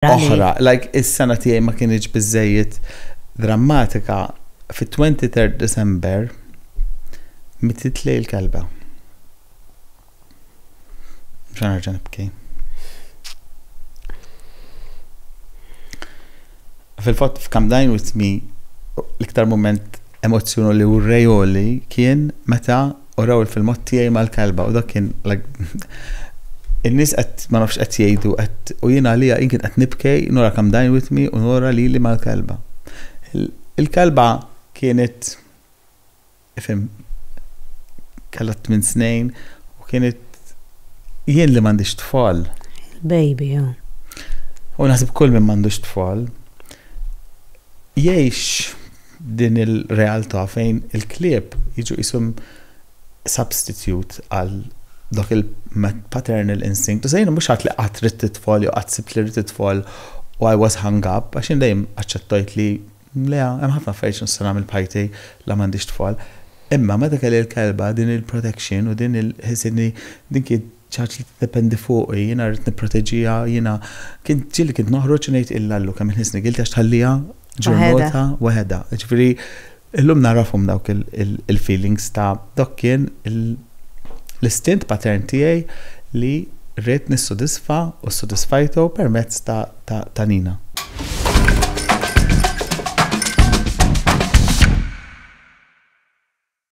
oħra. Like is-sena tiegħi ma kienx biżejjed drammatika fit-23 December mitit lej il-kelba. Mxan nerġa' nibki. Fil-fatt f'Cam Dine With Me l-iktar moment emozzjonu li u rejoli kien meta uraw il-filmat tiegħi mal-kelba u dak kien in-nies qed ma nafx qed jgħidu qed u jien għalija jien kien qed nibkej nura kam dajn witmi u nura lili mal-kelba. Il-kelba kienet ifhem kellha tmien snin u kienet jien li m'għandix tfal. Baby, jo. U naħseb kull minn m'għandux tfal jgħix din il-realtà fejn il-klieb jiġu qishom substitute għal dak il-paternal instinct. U sejn mhux għad li qatt rid titfol jew qatt sibt li rid titfol u I was hung up għax jien dejjem aċċettajt li le hemm ħafna affarijiet nista' nagħmel b'ħajti la m'għandix tfal. Imma meta kelli l-kelba din il-protection u din il-ħisni din kien Ċaġ li tiddependi fuqi, jiena rrid nipproteġiha, jiena, kien ġieli kint noħroġ u ngħid illa llu kemm il-ħin snigilti għax tħalliha ġurnota waħedha. Jiġifieri llum nagħrafhom dawk il-feelings ta' dak kien l-istint patern tiegħi li rrid nissodisfa u ssodisfajtu permezz ta' Nina.